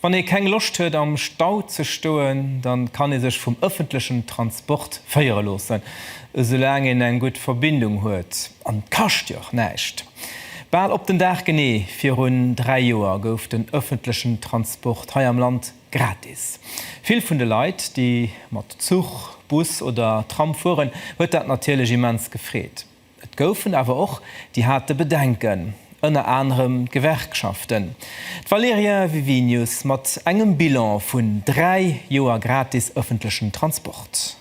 Wann ee keng Loscht huet am Stau ze stoen, dann kann ee sech vum ëffentlechen Transport féiere loossen, esoulaang een eng gutt Verbindung huet. An et kascht jo och näischt. Bal op den Dag genee virun 3 Joer gouf den ëffentlechen Transport hei am Land gratis. Vill vun de Leit, déi mat Zuch, Bus oder Tram fueren, huet dat natierlech immens gefreet. Et goufen awer och, déi hate Bedenken, ënner anerem d'Gewerkschaften. D'Valerija Vivinius mat engem Bilan vun dräi Joer gratis ëffentlechen Transport.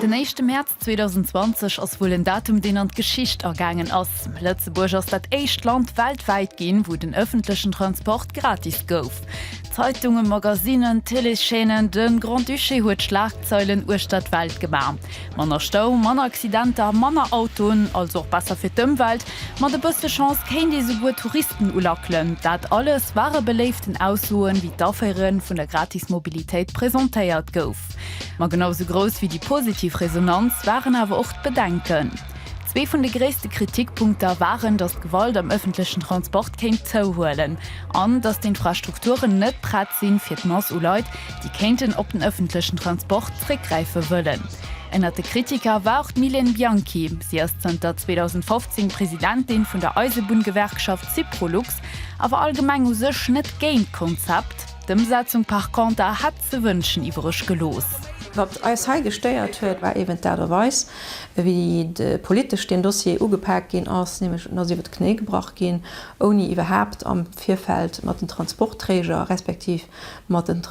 Den éischte Mäerz 2020 ass wuel en Datum, deen an d'Geschicht agaangen ass. Lëtzebuerg ass dat éischt Land weltwäit ginn, wou den ëffentlechen Transport gratis gouf. Zeitungen, Magasinen, Téléchaînen, de Grand-Duché huet Schlagzeilen uechter d'Welt gemaach. Manner Stau, manner Accidenter, manner Autoen, also och besser fir d'Ëmwelt. Mat e bësse Chance kéint ee souguer Touristen ulackelen. Dat alles ware beléiften Aussoen, wéi d'Aféiere vun der gratis Mobilitéit presentéiert gouf. Ma genau esou grouss wéi déi positiv Resonanz waren awer och d'Bedenken. Zwee vun de gréisste Kritikpunkter waren, datt d'Gewalt am ëffentlechen Transport kéint zouhuelen an datt d'Infrastrukturen net prett sinn, fir d'Mass u Leit, déi kéinten op den ëffentlechen Transport zréckgräife wëllen. Ënnert de Kritiker war och d'Mylène Bianchi. Si ass zanter 2015 Presidentin vun der Eisebunn-Gewerkschaft Syprolux a war allgemeng u sech net géint d'Konzept. D'Ëmsetzung par conter hätt. ze wënschen iwwereg gelooss. Wat eis hei gestéiert huet, war eben d'Aart a Weis, wéi de politesch deen Dossier ugepak ginn ass, nämlech en ass iwwer d'Knéi gebrach ginn, ouni iwwerhaapt am Virfeld mat den Transportträger respektiv mat den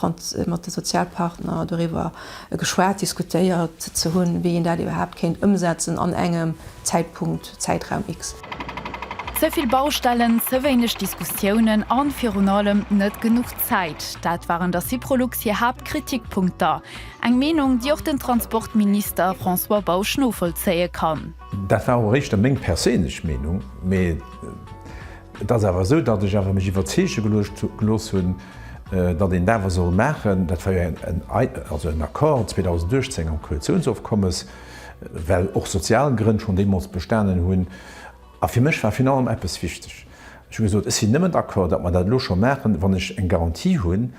mat de Sozialpartner doriwwer geschwat, diskutéiert ze hunn, wéi een dat iwwerhaapt kéint ëmsetzen an engem Zäitpunkt. de Zäitraum X. Ze vill Baustellen, ze wéineg Diskussiounen an virun allem net genuch Zäit, dat waren der Syprolux hir Haaptkritikpunkter. Eng Meenung, déi och den Transportminister François Bausch novollzéie kann. Dat war och éischter meng perséinlech Meenung, mee et ass awer esou, datt ech awer mech iwwerzeege gelooss hunn, datt een dat awer soll maachen. Dat war jo en Accord 2018 am Koalitiounsofkommes. well och sozial Grënn schonn deemools bestanen hunn. A fir mech war virun allem eppes wichteg, Ech hu gesot, ech sinn nëmmen d'accord, datt mer dat elo scho maachen, wann ech eng Garantie hunn,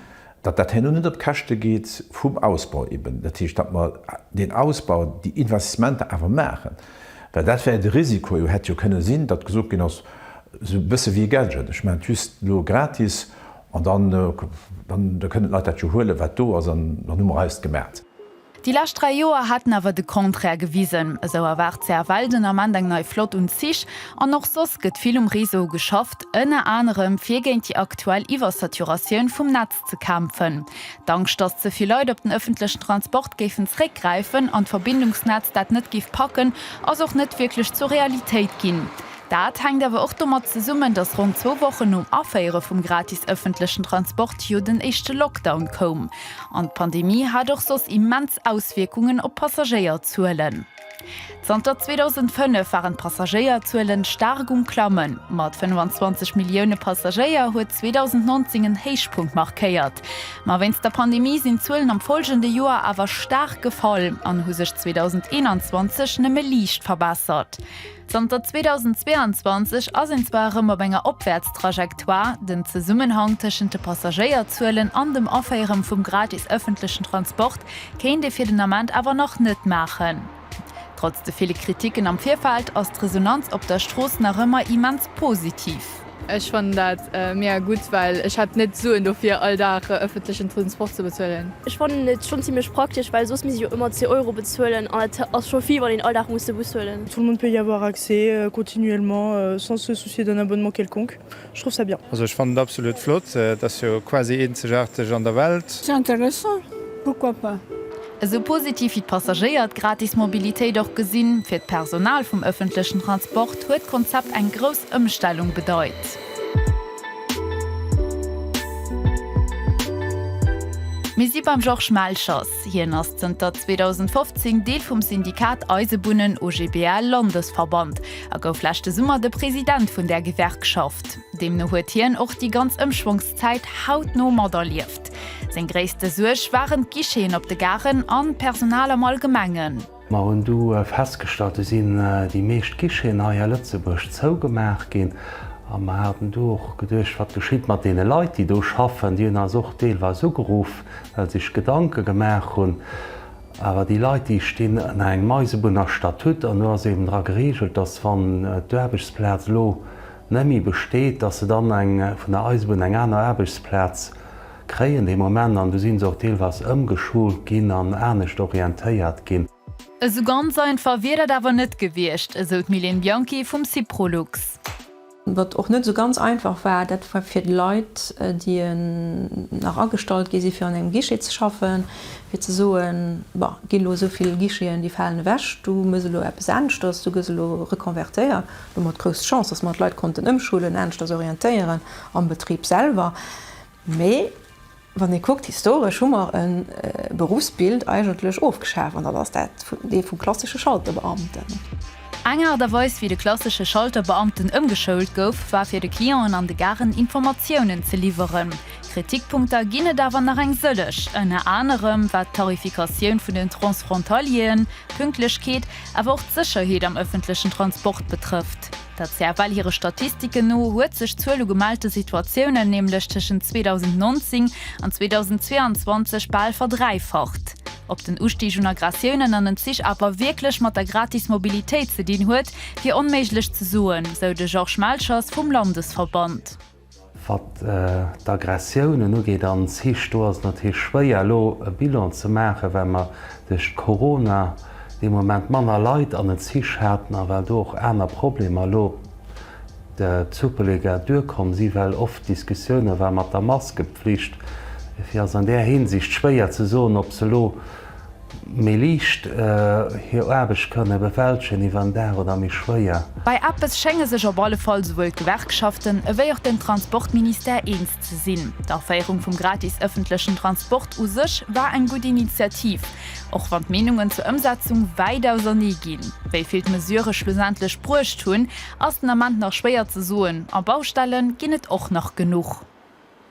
datt dat herno net op Käschte geet vum Ausbau eben. Dat heescht, datt mer deen Ausbau, déi Investissementer awer maachen, well dat war jo de Risiko. Et hätt jo kënne sinn, datt gesot ginn ass, Esou e bësse wéi e Gadget, ech maachen et just elo gratis an dann kënnen d'Leit dat jo huelen, wat do ass, an dann hu mer eist gemaach. Déi lescht dräi Joer hätten awer de Contraire gewisen. Esou erwaart d'CFL den Ament eng nei Flott un Zich. An och soss gëtt vill um Réseau geschafft, ënner anerem fir géint déi aktuell Iwwersaturatioun vum Netz ze kämpfen. D'Angscht, datt ze vill Leit op den ëffentlechen Transport géifen zeréckgräifen an d'Verbindungsnetz dat net géif packen, ass och net wierklech zur Realitéit ginn. Dat hänkt awer och domat zesummen, datt ronn zwou Wochen nom Aféiere vum gratis ëffentlechen Transport jo den éischte Lockdown koum. An d'Pandemie hat och soss immens Auswierkungen op d'Passagéierzuelen. Zanter 2005 waren d'Passagéierzuelen staark um Klammen. Mat 25 Millioune Passagéier huet 2019 en Héichpunkt markéiert. Ma wéinst der Pandemie sinn d'Zuelen am follgende Joer awer staark gefall an hu sech 2021 nëmme liicht verbessert. Zanter 2022 ass een zwar erëm op enger Opwäertstrajectoire, den Zesummenhang tëschent de Passagéierzuelen an dem Aféieren vum gratis ëffentlechen Transport kéint ee fir den Ament awer nach net maachen. Trotz de ville Kriticken am Virfeld ass d'Resonanz op der Strooss nach ëmmer immens positiv. Ech fannen dat mega gutt, well ech hätt net d'Suen dofir all Dag ëffentlechen Transport ze bezuelen. Ech fannen et schonn zimlech praktesch, well soss misst ech jo ëmmer 10 Euro bezuelen an dat ass scho vill, wann een all Dag muss de Bus huelen. Tout le monde peut y avoir accès continuellement sans se soucier d'un abonnement quelconque, je trouve ça bien. Also ech fannen et absolut flott, et ass jo quasi eenzegaarteg an der Welt. C'est intéressant, pourquoi pas. Esou positiv wéi d'Passagéier d'gratis Mobilitéit och gesinn, fir d'Personal vum ëffentlechen Transport huet d'Konzept eng grouss Ëmstellung bedeit. Mir si beim Georges Melchers. Hien ass zënter 2015 Deel vum Syndikat Eisebunnen OGBL Landesverband a gouf leschte Summer de President vun där Gewerkschaft. Deemno huet hien och déi ganz Ëmschwongszäit hautno materlieft. Seng gréisste Suerg waren d'Guicheten op de Garen an d'Personal am Allgemengen. Mer hunn du festgestallt, do sinn déi meescht Guicheten hei a Lëtzebuerg zougemaach ginn. A mer haten du och geduecht, wat geschitt mat deene Leit, déi do schaffen? Déi hunn eis och deelweis ugeruff, well sech Gedanke gemaach hunn. Awer déi Leit, déi stinn ënner engem Eisebunner-Statut an do ass eben dra gereegelt, dass wann d'Aarbechtsplaz elo, Nemme besteet, dass se dann eng vun der Eisebunn eng aner Aarbechtsplaz kréien dee Moment an du sinn se och deelweis ëmgeschult ginn an anescht orientéiert ginn. Esou ganz einfach wier dat awer net gewiescht, esou d'Mylène Bianchi vum Syprolux. Wat och net esou ganz einfach war, dat war fir d'Leit, déi nach agestallt gi si fir an engem Guichet ze schaffen, fir ze soen, Bon, et ginn elo esou vill Guicheten, déi falen ewech, du muss elo eppes aneschters, du gëss elo reconvertéiert. Elo mat grouss Chance, dass mer d'Leit konnten ëmschulen, aneschters orientéieren am Betrib selwer. Mee wann ee kuckt, historesch hu mer e Berufsbild eigentlech ofgeschaf, an dat ass dat, dee vum klassesche Schalterbeamten. Eng Aart a Weis, wéi de klassesche Schalterbeamten ëmgeschoult gouf, war fir de Clienten an de Garen Informatiounen ze liwweren. Kritikpunkter ginn et awer nach eng sëllech, ënner anerem wat d'Tarifikatioun vun den Transfrontalieren, d'Pünktlechkeet, Awer och d'Sécherheet am ëffentlechen Transport betrëfft dat. CFL hire Statistiken no huet sech d'Zuel u gemellte Situatiounen nämlech tëschent 2019 an 2022 bal verdräifacht. Ob den Ustig un Aggressiounen an den Zich awer wierklech mat der gratis Mobilitéit ze dinn huet, wier onméiglech ze soen, sou de Georges Melchers vum Landesverband. Wat d'Aggressiounen ugeet, an s hich, do ass et natierlech schwéier elo e Bilan ze maachen, well mer duerch Corona dee Moment manner Leit an en s hich haten a well do och aner Problemer elo d'Supelega duerkomm si well oft Diskussioune war mat der Maskepflicht. Dofir ass an där Hinsicht schwéier ze soen, ob se elo, Méi liicht hir Aarbecht kënne bewältegen iwwer en Dag oder méi schwéier. Bei eppes schénge sech op alle Fall souwuel d'Gewerkschaften ewéi och den Transportministère eens ze sinn, D'Aféierung vum gratis ëffentlechen Transport u sech war eng gutt Initiativ, och wann d'Meenungen zur Ëmsetzung wäit ausernee ginn. Wéi vill d'Mesurë schlussendlech bruecht hunn, ass den Ament nach schwéier ze soen a Baustelle ginn et och nach genuch.